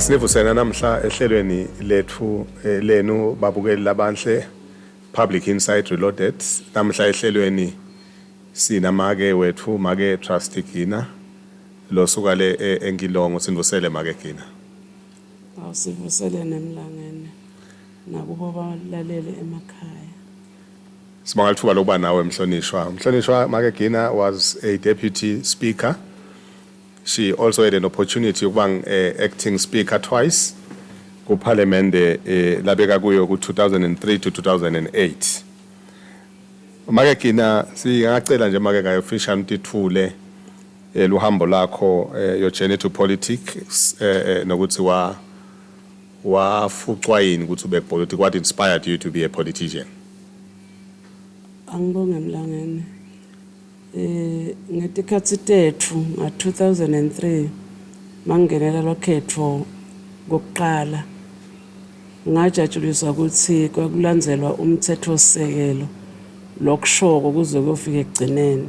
Asinivusena namhla ehlelweni lethu eh, lenu babukeli labanhle Public Insight Reloaded. Namhla ehlelweni sina make wethu make Trust Gina losuka le eh, eNkilongo sinivusele make Gina. Awusivusele nemlangeni nakubo balalele emakhaya. Sibonga lithuba lokuba nawe mhlonishwa. Mhlonishwa Makegina was a deputy speaker. She also had an opportunity yokuba eh, acting speaker twice kuPhalemende eh, labeka kuyo ku-2003 to 2008. Makegina singacela nje make ngayofisha mtithule eh, luhambo lakho eh, your journey to politics eh, eh, nokuthi wa wafucwa yini ukuthi ube politics what inspired you to be a politician angibonge mlangeni eh ngetikhathi tethu nga 2003 mangenela lokhetho kokuqala ngajatshuliswa ukuthi kwakulandzelwa umthetho osekelo lokushoko kuze kuyofika ekugcineni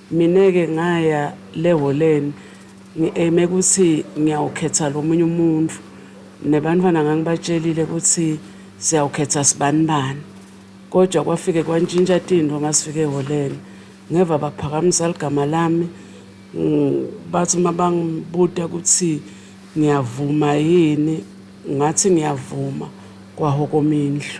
Mina ke ngaya le holen ngi aime kuthi ngiyawukhetha lomunye umuntu nebantwana ngangibatshelile kuthi siyawukhetha sibani bani kodwa kwafike kwantshintsha tinto masifike eholen ngeva baphakamisa ligama lami bathi uma bangibuta kuthi ngiyavuma yini ngathi ngiyavuma kwahokoma indlu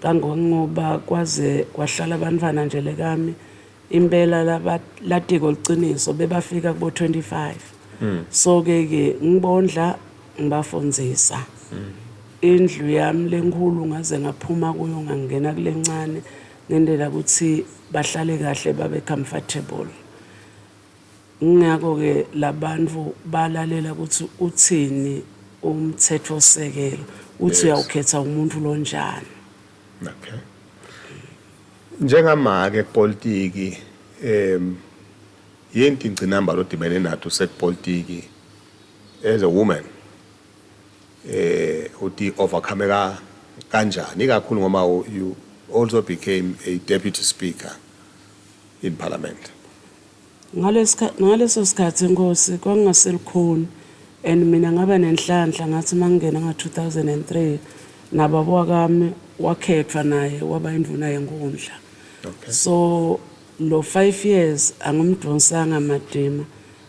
Kangongoba kwaze kwahlala abantwana nje lekami impela laba latiko liqiniso bebafika kubo 25 so ke ke ngibondla ngibafundzisa indlu yami lenkhulu ngaze ngaphuma kuyo ngangena kulencane ngendela ukuthi bahlale kahle babe comfortable Ngakho-ke labantu balalela ukuthi uthini umthethosisekelo uthi uyawukhetha umuntu lo njani. Okay. Njengamake kupolitiki um yinto ingcinamba lodibene nathi usekupolitiki as a woman eh uti overcome ka kanjani ikakhulu ngoba you also became a deputy speaker in parliament. Ngaleso sikhathi inkosi kwakungaselukhuni and mina ngaba nenhlanhla ngathi uma ngingena ngo 2003 nababa wakami wakhethwa naye waba induna yenkundla okay. so lo 5 years angimdonsanga madima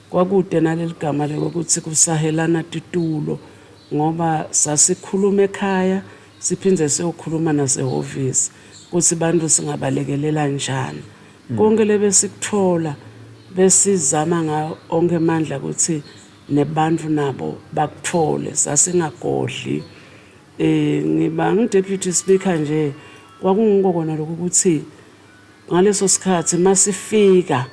kwakude naleli gama lokuthi kusahelana titulo ngoba sasikhuluma ekhaya siphinde siyokhuluma nasehhovisi ukuthi bantu singabalekelela njani Konke lebesikuthola besizama ngawo onke amandla ukuthi nebantu nabo bakuthole sasingagodli eh ngiba ngideputy speaker nje kwakungiko kona lokho ukuthi ngaleso sikhathi masifika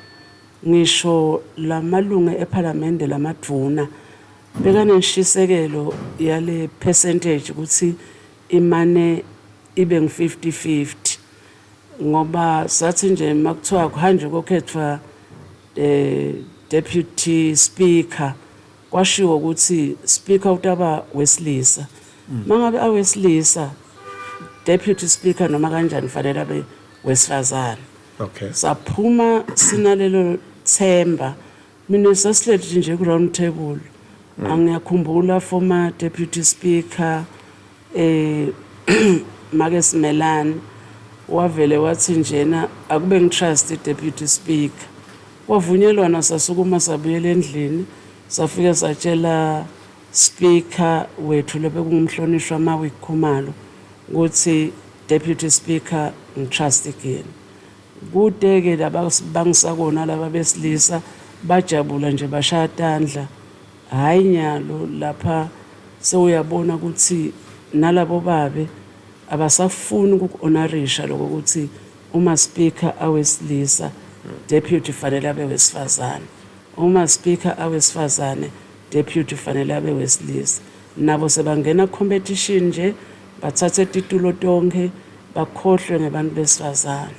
ngisho lamalunga ePhalamende lamadvuna bekanenshisekelo yale percentage ukuthi imane ibe ngu 50 50 ngoba sathi nje makuthiwa kuhanjwe kokhethwa eh deputy speaker kwashiwo ukuthi speaker utaba wesilisa mangabe awesilisa deputy speaker noma kanjani fanele abe wesifazane okay saphuma sinalelo themba Mina sasihleli nje ku-round table mm. angiyakhumbula former deputy speaker eh make simelani wavele wathi njena akube ngitrust i-deputy speaker kwavunyelwana sasukuma sabuyela endlini safike satshela speaker wethu lobekungumhlonishwa mawikhumalo ukuthi deputy speaker ngitrust again Kude ke laba bangisa kona laba besilisa bajabula nje bashaya tandla. Hhayi nyalo lapha sewuyabona ukuthi nalabo babe abasafuni ukuku-onarisha lokho ukuthi uma speaker awesilisa deputy fanele abe wesifazane. Uma speaker awesifazane deputy fanele abe wesilisa. Nabo sebangena competition nje bathathe titulo tonkhe bakhohlwe ngebantu besifazane.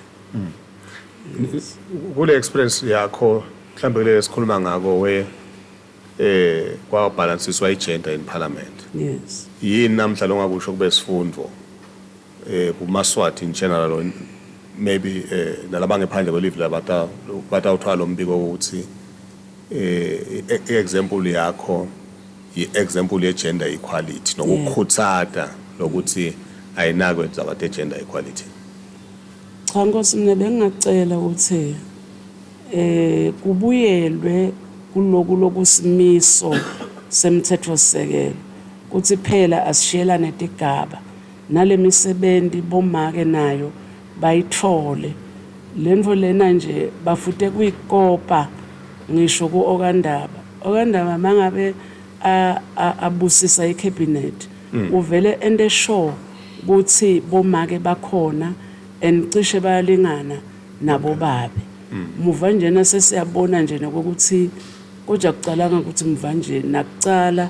Kule experience yakho mhlambe kule esikhuluma ngako we eh kwa balanceswa i gender in parliament. Yes. Yini namhla longakusho kube sifundo eh, kumaswati in general or maybe eh, nalabangephandle kwelivi labata- batawuthola lo mbiko wokuthi eh, e- i-example yakho yi-example ye-gender equality nokukhuthata lokuthi ayinakwe indaba te-gender equality Cha Nkosi mina bengingacela ukuthi eh kubuyelwe kuloku lokusimiso semthetho sisekelo kuthi phela asishiyelane tigaba Nalemisebenzi bomake nayo bayithole. Lento lena nje bafute kuyi kopa ngisho ku Okandaba. Okandaba mangabe a a abusisa i cabinet uvele ente sure kuthi bomake bakhona and cishe bayalingana nabo babe. Muva njena sesiyabona nje nokokuthi koja kucalanga kuthi muva nje nakucala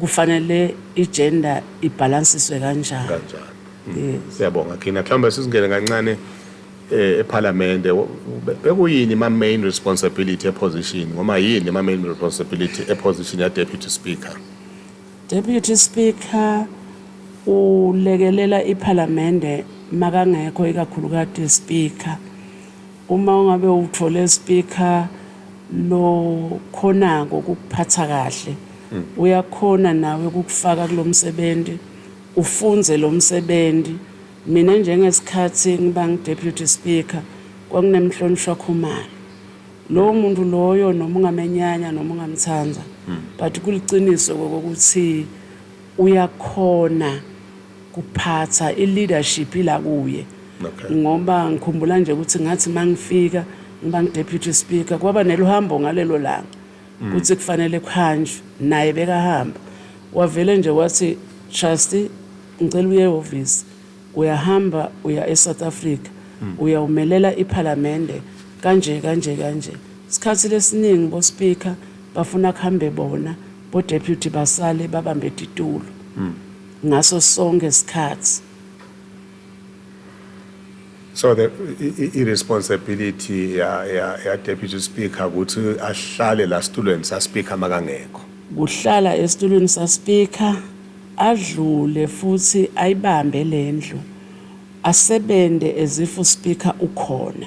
Kufanele igender ibhalansiswe kanjani? Kanjani. Yes. Siyabonga Kina. Mhlawumbe sisingene kancane eh, ePhalamende Wo- be- bekuyini ma main responsibility eposition noma yini ma main responsibility eposition ya deputy speaker. Deputy Speaker ulekelela iPhalamende makangekho ikakhulukati Speaker Uma ungabe uwuthole speaker lokhonako ukukuphatha kahle uyakhona nawe ukukufaka kulomsebenzi ufunze lomsebenzi mina njengesikhathi ngibang deputy speaker kwakunemhlonishwa khumalo lowo muntu loyo noma ungamenyanya noma ungamthanda but kuliqiniso kokuthi uyakhona kuphatha i leadership ila kuye okay. ngoba ngikhumbula nje ukuthi ngathi mangifika ngiba ngideputy speaker kwaba neluhambo ngalelo langa mm. ukuthi kufanele kuhanjwe naye bekahamba wavele nje wathi trustee ngicela uye ehhovisi uyahamba uya eSouth Africa mm. uyawumelela iphalamende kanje kanje kanje isikhathi lesiningi bo speaker bafuna kuhambe bona bo deputy basale babambe titulo mm. Ngaso sonke isikhathi. So the irresponsibility ya ya ya deputy speaker ukuthi ahlale la situlweni sa speaker makangekho. Kuhlala esitulweni sa speaker adlule futhi ayibambe lendlu asebenze as if u speaker ukhona.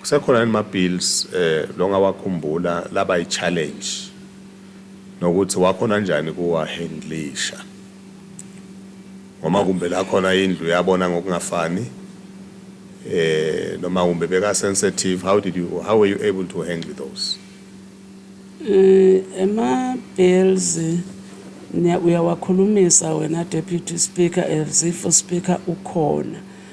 Kusekhona yini ma bills eh longawakhumbula laba i challenge nokuthi wakhona njani kuwa handlisha ngoma kumbe la khona indlu yabona ngokungafani eh noma kumbe beka sensitive how did you how were you able to handle those eh ema bills uyawakhulumisa wena deputy speaker as if speaker ukhona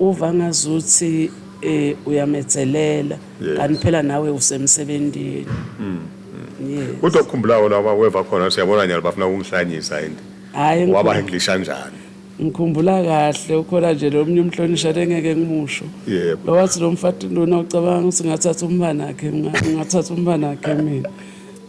Uva ngazuthi uyametselela kanti phela nawe usemsebentini. Yes. Kodwa ukhumbulawo lawa weva khona siyabona nyalo bafuna ukungihlanyisa and Hayi ngikhu- waba English kanjani. ngikhumbula kahle ukhona nje lo mnye umhlonishwa engeke ngimusho. Yebo. Lowathi lo mfati lona ucabanga ukuthi ngathatha umbanakhe ngathatha umbanakhe mina.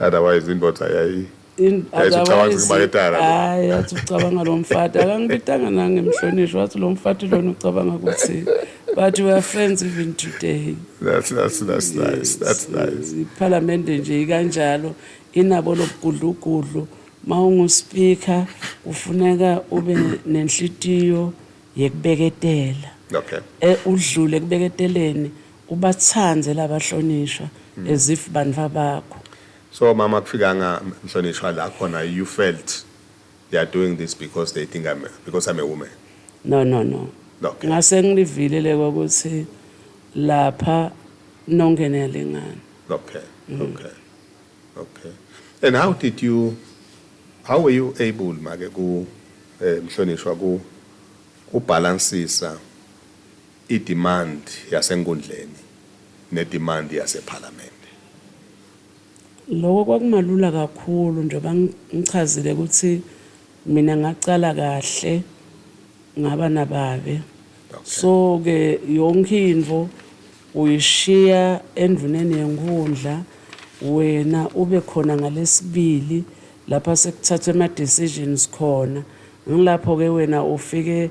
otherwise indoda yayi hayi athi ucabanga lo mfati akangibitanga nangemhlonishwa wathi lo mfati lona ucabanga ukuthi but we are friends even today that's, that's, that's yes. nice. That's nice. iphalamende nje ikanjalo inabo lobugudlugudlu ma unguspeaker kufuneka ube nenhlitiyo yekubeketela okay. e, udlule ekubeketeleni Ubathande laba hlonishwa as if bantwa bakho. So mama akufikanga mhlonishwa la khona you felt they are doing this because they think I'm because I'm a woman. No no no. Okay. Ngase ngilivile le kokuthi lapha nonke niyalingana. Okay. Okay. Okay. And how did you how were you able make ku eh, mhlonishwa ku ku balancisa I-demand yasenkundleni ne-demand yasePhalamende. Loko kwakumalula kakhulu njengoba ngichazile ukuthi mina ngaqala kahle ngaba nababe. So ke yonke into uyishiya enduneni yenkhundla wena ube khona ngalesibili lapha sekuthathwa ema decisions khona. Ngilapho ke wena ufike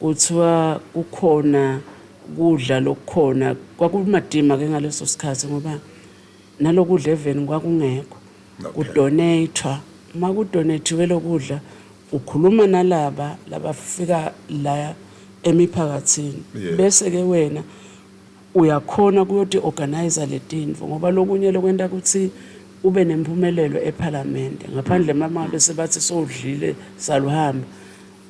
Kuthiwa kukhona kudla lokukhona kwakumadima ke ngaleso sikhathi ngoba nalokudla even kwakungekho kudonathwa uma kudonathiwe lokudla ukhuluma nalaba labafika la emiphakathini bese ke wena uyakhona kuyoti organize letinto ngoba lokunye lokwenta ukuthi ube nempumelelo ephalamende ngaphandle mama bese bathi sowudlile saluhamba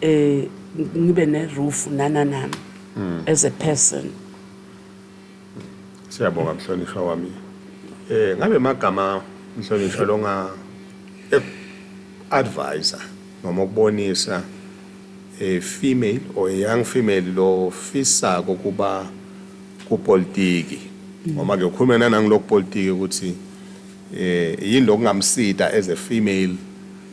eh ngibe ne roof nana nami hmm. as a person siyabonga mhlonishwa wami eh ngabe magama mhlonishwa longa eh, advisor noma ukubonisa a female or a young female lo fisa kokuba kupolitiki hmm. ngoba ke ukhuluma nanangilokupolitiki ukuthi eh yini lokungamsida as a female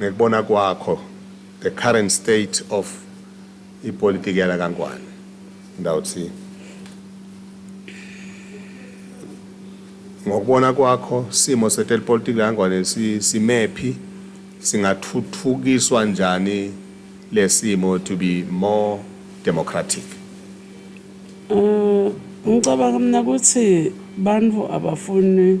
ngekubona kwakho the current state of ipolitiki yala kaNgwane ndawuthi ngokubona kwakho simo sethu elipolitiki langwane simephi singathuthukiswa njani lesimo to be more democratic um ngicabanga mina ukuthi bantu abafuni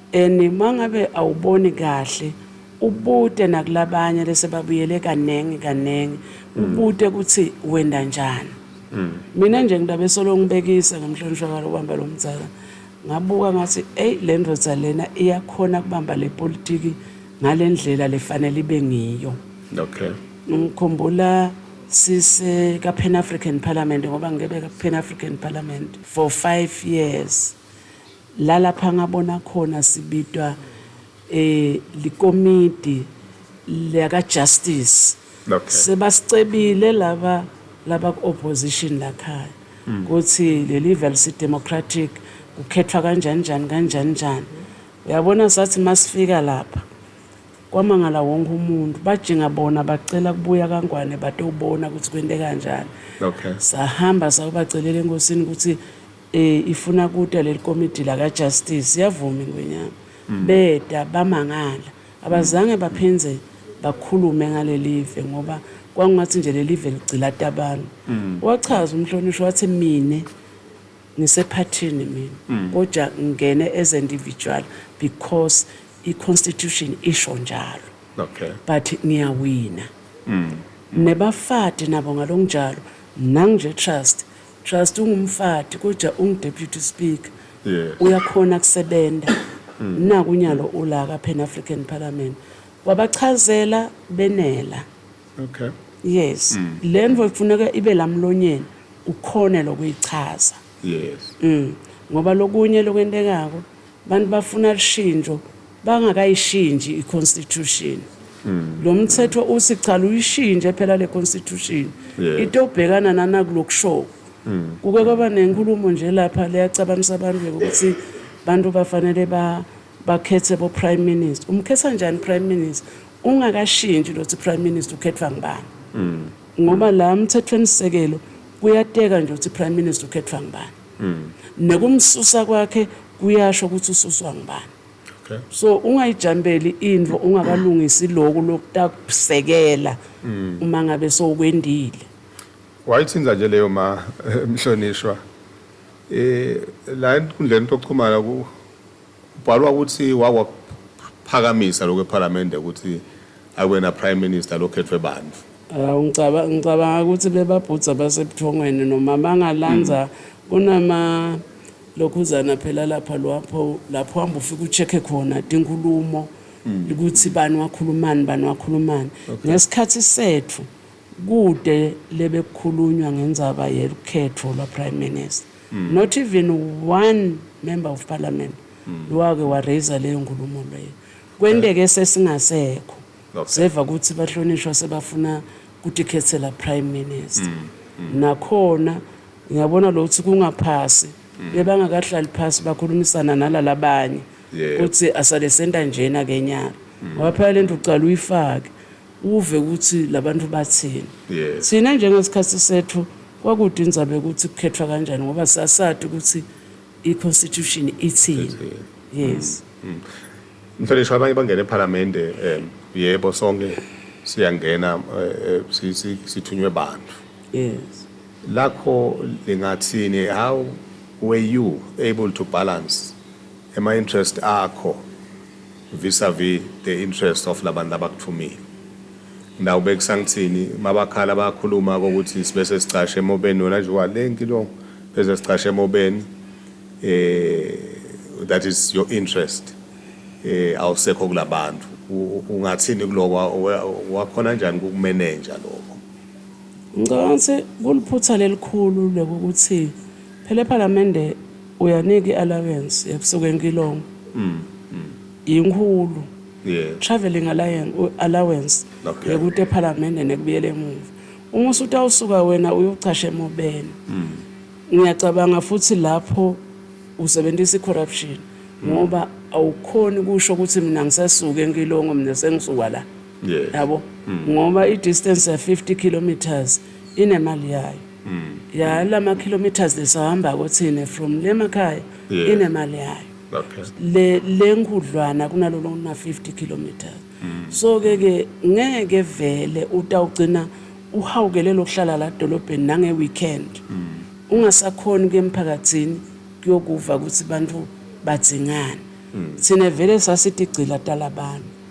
And mangabe awuboni kahle ubute nakulabanye lese babuyele kanengi kanengi ubute kuthi wenda njani. Mina nje ngilabe solo ngibekisa ngamhlonishwa kwalo kubamba lo mdzala ngabuka ngathi eyi le ndoda lena iyakhona kubamba le politiki ngale ndlela lefanele ibe ngiyo. Okay. Ngikhumbula sise ka Pan African Parliament ngoba ngibeka Pan African Parliament for five years. Lalapha ngabona khona sibitwa e likomidi laka justice Okay. sebasicebile laba laba ku opposition lakhaya kuthi lelive alisi democratic kukhethwa kanjani njani kanjani njani uyabona sathi masifika lapha kwamangala wonke umuntu bajinga bona bacela kubuya kaNgwane batobona ukuthi kwente kanjani Okay. sahamba sayobacelela enkosini ukuthi Eh ifuna kuta lelikomidi laka Justice yavuma ingwenyama. Mm. Beta bamangala. Abazange baphindze bakhulume ngalelive ngoba kwangathi nje lelive ligcilata abantu. Mm. Wachaza umhlonishwa wathi mina ngisephathini mina mm. kodwa ngingene as individual because i constitution isho njalo. Okay. But ngiyawina. Mm. Nebafati nabo ngalonjalo nanginje trust Trust ungumfati kodwa ungu deputy speaker Yes. uyakhona kusebenza naku unyalo ulaka pan African parliament wabachazela benela Okay. yes lento ifuneka ibe lamlonyeni ukhone lokuyichaza Yes. ngoba lokunye lokwentekako Abantu bafuna lushintsho bangakayishinji iconstitution. Mm. Lo mthetho uthi cha luyishintshe phela le constitution. Yes. Into obhekana nana kulokushoko. Mm. Kuke kwaba nenkulumo nje lapha leyacabanisa abantu ukuthi abantu bafanele ba bakhethe bo prime minister. Umkhetha njani prime minister? Ungakashintshi lothi prime minister ukhethwa ngubani? Mm. Ngoba la mthethweni sekelo kuyateka nje ukuthi prime minister ukhethwa ngubani. Nekumsusa kwakhe kuyasho ukuthi ususwa ngubani. So ungayijambeli intfo ungakalungisi loku lokutakusekela uma ngabe sowukwendile. Wayithinta nje leyo ma mhlonishwa la enkundleni yokuxhumana ku. Kubhalwa ukuthi wakwaphakamisa lokhu ePhalamende ukuthi akube na Prime Minister lokhethwe bantu. Hawu ngicaba ngicabanga ukuthi bebabhudza basebuthongweni noma bangalanza kunama lokhuzana phela lapha lapho lapho hamba ufike ucheck khona tinkulumo ukuthi bani wakhulumani bani wakhulumani ngesikhathi sethu kude lebekukhulunywa ngenzaba yelukhetho lwa prime minister not even one member of parliament wake waraiser leyo nkulumo leyo kwenteke sesingasekho Okay. seva ukuthi bahlonishwa sebafuna kutikhethela prime minister nakhona ngiyabona lo ukuthi kungaphasi bebangakahlali phasi bakhulumisana nalalabanye Yebo. ukuthi asale senta njena kenyaka ngoba phela lento ucala uyifake uve ukuthi labantu bathini yes. thina njengesikhathi sethu kwakude indzaba yokuthi kukhethwa kanjani ngoba sasati ukuthi i-constitution ithini yes mm. mm. mfenisho abanye bangena ephalamende um yebo sonke siyangena eh, eh, sithunywe bantu yes lakho lingathini how were you able to balance ema interest akho vis a vis the interest of labantu labakuthumile now bekusangithini mabakhala bayakhuluma kokuthi sibe sesicashe emobeni wena nje walenki lo bese sicashe emobeni eh that is your interest eh awusekho kulabantu ungathini kuloko wakhona njani kukumenenja lokho ngicabanga ukuthi kuliphutha lelikhulu lokuthi phela ephalamende Uyanika i allowance ebusuku enkilongo yinkulu travelling allowance yekuta ephalamende nekubuyela emuva uma usutawusuka wena uyocasha emobeni ngiyacabanga futhi lapho usebentisa i corruption ngoba awukhoni kusho ukuthi mina ngisesuke enkilongo mina sengisuka la yabo ngoba i distance ya 50 kilometres inemali yayo ya la ma kilometers lesihambako thina from le makhaya Yeah. inemali yayo Okay. le le nkhudlwana kunalolo kuna 50 kilometers so ke ke ngeke vele utawugcina uhawukele lokuhlala la dolobheni nange weekend ungasakhoni kuye emphakathini kuyokuva ukuthi bantu badzingani thina vele sasitigcila talabantu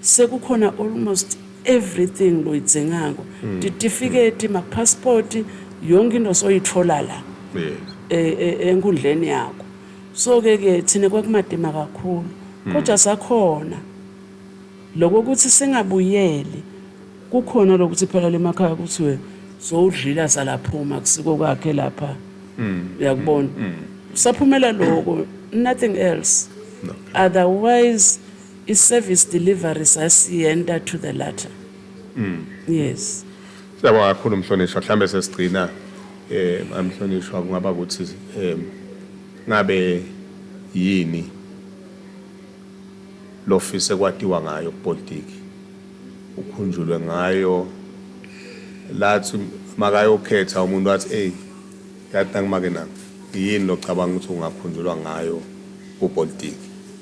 sekukhona almost everything loyidzingako mm. titifiketi mapassport yonke into soyithola la e, e, enkundleni yakho so ke ke thina kwakumadima kakhulu mm. kodwa sakhona lokho ukuthi singabuyeli kukhona lokuthi phela lemakhaya kuthiwe sowudlila salaphuma kusiko kwakhe lapha mm. uyakubona saphumela lokho nothing else otherwise I service delivery sasiyenta to the latter. Yes. Siyabonga kakhulu mhlonishwa, mhlambe sesigcina eh amhlonishwa kungaba ukuthi em ngabe yini lofise kwatiwa ngayo kupolitiki ukhunjulwe ngayo lathi makayokhetha umuntu wathi hey yathi nangimake nami yini locabanga ukuthi ungakhunjulwa ngayo kupolitiki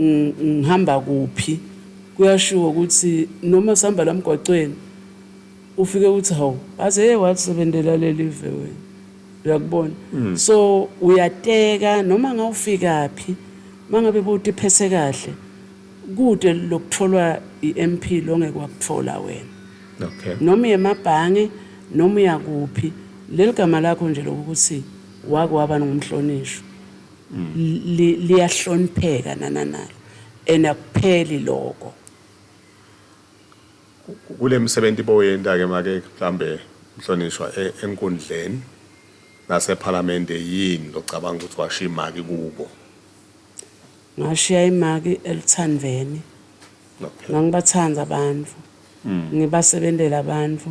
ngihamba kuphi kuyashiwo ukuthi noma sihamba la mgwacweni ufike uthi hawu aze ye walisebenzela lelive wena uyakubona hmm. so uyateka noma ngawufika phi mangabe buti phese kahle kude lokutholwa iMP longeke wakuthola wena okay noma yemabhange noma uyakuphi leligama lakho nje lokuthi wake waba ngumhlonishwa liyahlonipheka nananalo and akupheli lokho kule misebenzi boyenta-ke make mhlambe mhlonishwa e, enkundleni nasephalamende yini locabanga ukuthi washiya imaki kubo ngashiya imaki eluthandveni ngangibathanda abantu hmm. ngibasebentela abantu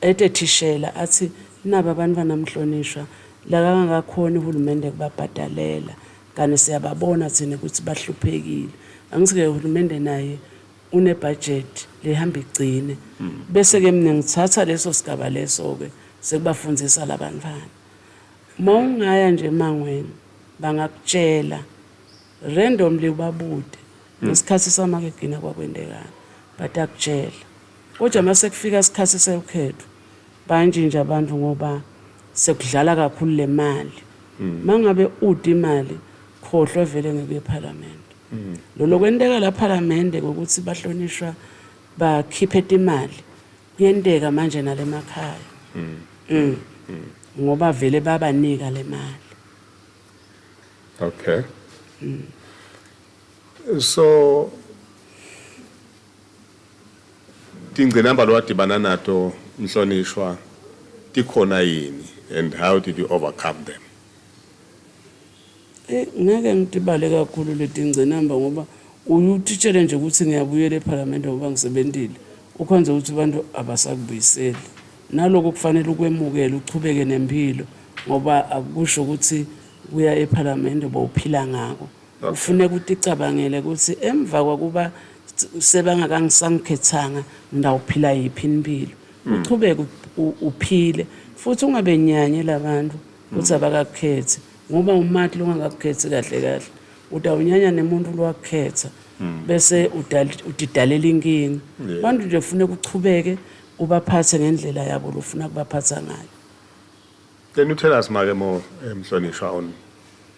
Ede thishela athi naba bantwana mhlonishwa la kangakakhoni uhulumende kubabhadalela kanti siyababona thina ukuthi bahluphekile angithi ke uhulumende naye une budget lehamba igcine bese ke mina ngithatha leso sigaba leso ke sekubafundisa labantwana mawungaya nje emangweni bangakutshela randomly ubabude ngesikhathi samakegina kwakwendekani but akutshela Kodwa masekufika isikhathi sewukhetho bayantshintsha abantu ngoba sekudlala kakhulu le mali hmm. mangabe ude imali khohlwa vele ngekuye ephalamende hmm. lolo kwenteka la phalamende ngokuthi bahlonishwa bakhiphe imali kuyenteka manje nalemakhaya hmm. ngoba vele babanika le mali okay so Tingcinamba lowadibana nato mhlonishwa tikhona yini and how did you overcome them? Eyi ngeke ngidibale kakhulu letingcinamba ngoba uye utitshele nje ukuthi ngiyabuyela ephalamende ngoba ngisebentile ukhonze ukuthi abantu abasakubuyiseli naloko kufanele ukwemukele uchubeke nempilo ngoba akusho ukuthi kuya ephalamende bowuphila ngako Kufuneka uticabangele ukuthi emva kwakuba sebangakangisangikhethanga ndawuphila yiphi impilo. Uqhubeke uphile futhi ungabenyanye labantu ukuthi abakakukhethi ngoba umathi longakakukhethi kahle kahle utawunyanya nemuntu lwakukhetha bese udidalela inkinga. Abantu nje kufuneka uchubeke ubaphathe ngendlela yabo lofuna kubaphatha ngayo. Can you tell us make more eh, mhlonishwa on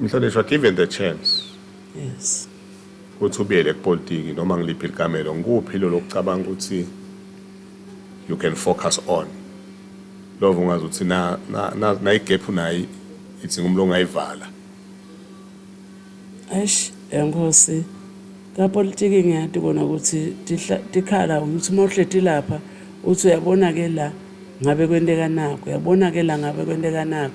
Mhlonishwa, given the chance Yes. ukuthi ubuyele kupolitiki noma ngiliphi likamelo, ngikuphi lolo kucabanga ukuthi you can focus on? Lova ungazi ukuthi na na na nayigap unayo idzinga umlo ongayivala. Eish, enkosi. Kapolitiki ngiyati kona ukuthi tihla- tikhala ukuthi uma uhleti lapha uthi uyabona ke la ngabe kwenteka naku, uyabona ke la ngabe kwenteka naku.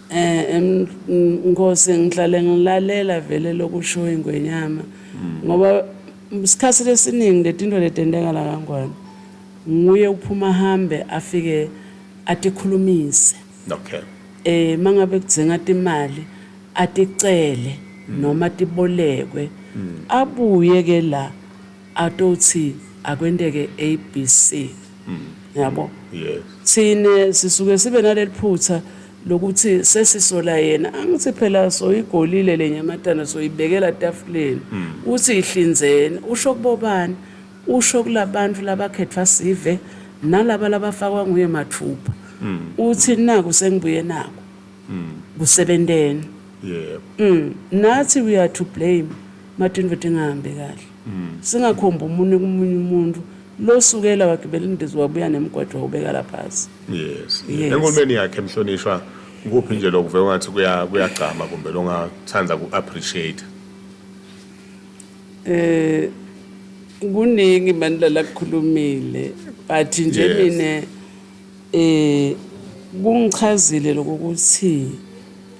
Eh Nkosi ngihlale ngilalela vele lokusho ingwenyama hmm. ngoba isikhathi lesiningi letinto letenteka la kangwane nguye uphuma hambe afike atikhulumise okay eh mangabe kudzinga imali aticele hmm. noma tibolekwe hmm. abuye ke la Atothi akwenteke ABC yabo. Thina sisuke sibe naleliphutha lokuthi sesisola yena angithi phela soyigolile lenyamatana soyibekela tafuleni uthi ihlinzeni usho kubobani usho kulabantu labakhetfwa sive nalaba labafakwa nguye mathupha uthi naku sengibuye naku kusebenteni nathi we are to blame Madu indoda engahambi kahle. Singakhomba umunwe kumunye umuntu. Lo sukela wagibela indiza wabuya nemgwaqo wawubeka la phansi. Yes. Yes. Enkulumeni yakhe mhlonishwa kuphi nje lokuve ungathi kuya kuyagcama kumbe longathanda ku appreciate. Eh kuningi bandla lakukhulumile but nje Yes. mina eh kungichazile lokuthi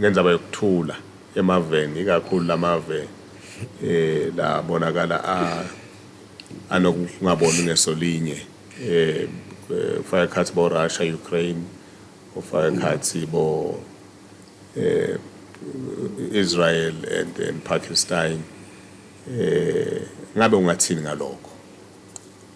Ngenzaba yokuthula emaveni ikakhulu lamave labonakala anokungaboni ngeso linye kufaka ekhathi bo Russia, Ukraine kufaka ekhathi bo Israel and and Pakistine ngabe ungathini ngalokho.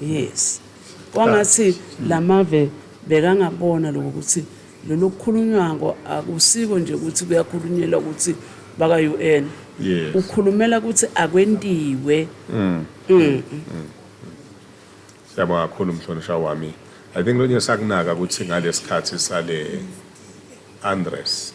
Yes. Kwangathi lamave bekangabona lokho ukuthi lolu kukhulunywako akusiko nje ukuthi kuyakhulunyelwa ukuthi baka UN. Yes. Ukhulumela ukuthi akwentiwe. Mm. Mm. Siyabonga kakhulu mhlonishwa wami. I think lonye sakunaka ukuthi ngalesikhathi sale unrest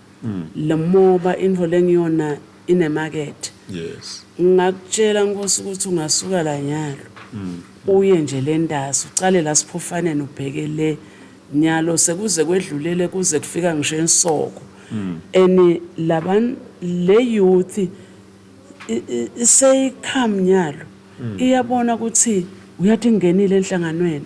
Lomoba into lengiyona ine market. Yes. Ngingakutshela Nkosi ukuthi ungasuka la nyalo. Uye nje le Ntasa ucale la Sphofaneni ubheke le nyalo sekuze kwedlule le kuze kufika ngisho eNsoko. And laban le youth iseyi come nyalo iyabona ukuthi uyathi ingenile enhlanganweni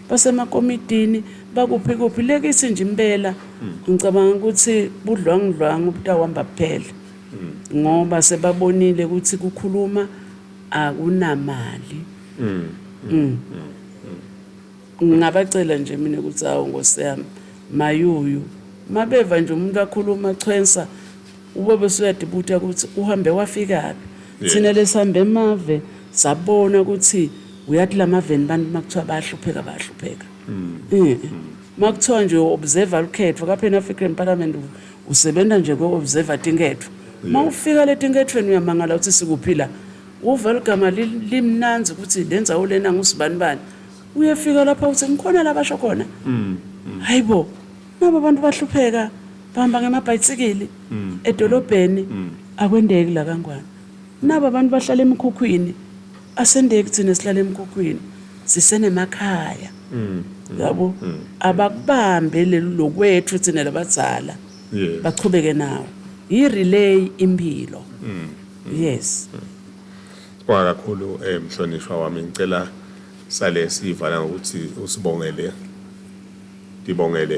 basemakomitini bakuphi kuphi le kithi nje impela ngicabanga ukuthi budlwangudlwanga ubutawuhamba kuphela ngoba sebabonile ukuthi kukhuluma akunamali mm. Mm. ngingabacela nje mina ukuthi awu nkosi yami mayuyu mabeva nje umuntu akhuluma chwensa Ubaba usuyadibutha ukuthi uhambe wafikaphi. Thina lesihamba emave sabona ukuthi uyathi lamaveni bantu makuthiwa bayahlupheka bayahlupheka. Makuthiwa nje observer lukhetho ka Pan African Parliament usebenza nje ko observer tinketho. Mawufika letinkethweni uyamangala ukuthi sikuphi la. Uva ligama limnanzi ukuthi lenzawo lena ngusibani bani. Uyefika lapha uthi ngikhona la basho khona. Hayibo. Nabo abantu bahlupheka bahamba ngemabhayisikili mm. edolobheni mm. akwendeki la kangwane. Nabo abantu bahlala emikhukhwini asendeki thina sihlala emikhukhwini sisenemakhaya. Mm. Yabo abakubambe lokwethu thina labazala. Bachubeke nawo. Yi relay impilo. Yes. Kwa kakhulu eh mhlonishwa wami ngicela sale sivala ngokuthi usibongele Ndibongele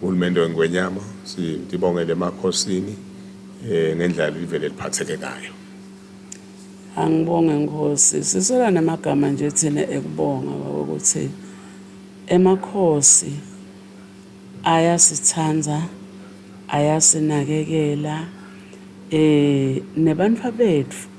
uhulumende weNgwenyama, ndibongele emakhosini ngendlela livele liphatheke ngayo. Angibonge Nkosi. Sisola namagama nje thina ekubonga baba ukuthi emakhosi ayasithanda ayasinakekela eh nebantu bethu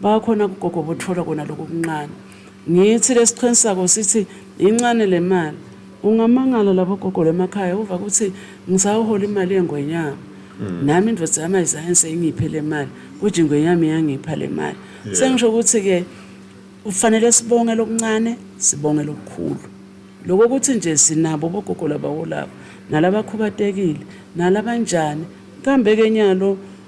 Bakhona kugogo bothola kona lokho kuncane. Ngithi lesiqhen sako sithi incane lemali. Ungamangala labo gogo lemakhaya uva kuthi ngisawuhola imali yengwenyama. Mm. Nami indoda yami ayizange seyingiphe lemali, kuthi ingwenyama iyangipha lemali. Yeah. Sengisho ukuthi ke ufanele sibonge lokuncane, sibonge lokukhulu. Lokho ukuthi nje sinabo bogogo labawolabo, nalabakhubatekile, nalabanjani, kambe ke nyalo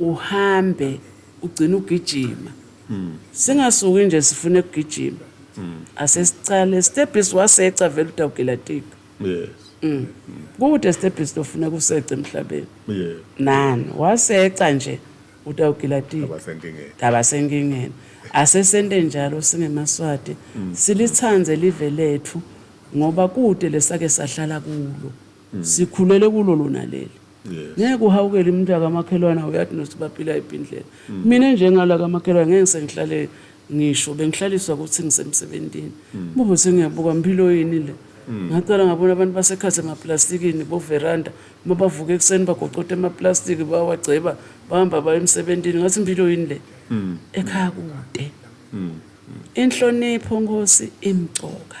uhambe ugcine ugijima singasuki nje sifune kugijima asesicale stebhisi waseca vele udawugelatika yes Mm. kude esitebhisi lofuna kuseca emhlabeni yeah nani waseca nje utawugilatika abasenkingeni ndaba senkingeni asesente njalo singemaswati silithande live lethu ngoba kude lesake sahlala kulo sikhulele kulo lona leli ngeke uhawukele umuntu akamakhelwane awuyathi nothi baphila yiphi indlela mm. mina njengala kamakhelwane ngeke sengihlale ngisho bengihlaliswa ukuthi ngisemsebenzini mm. bubo sengiyabuka mpilo yini le mm. ngaqala ngabona abantu basekhathi emaplastikini boveranda uma bavuka ekuseni bagocoda emaplastiki bawagceba bahamba baye emsebenzini ngathi impilo yini le ekhaya kude inhlonipho nkosi imcoka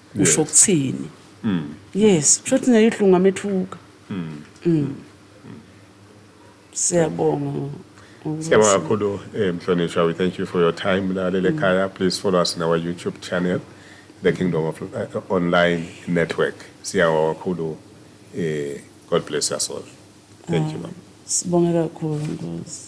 usho ukuthini mm. yes kusho ukuthi naye uhlungu amethuka mm. mm. siyabonga Siyabonga kakhulu eh, Mhlonishwa we thank you for your time mlaleli ekhaya please follow us on our YouTube channel the Kingdom of uh, Online Network siyabonga kakhulu eh God bless us all thank you mama Sibonga kakhulu Nkosi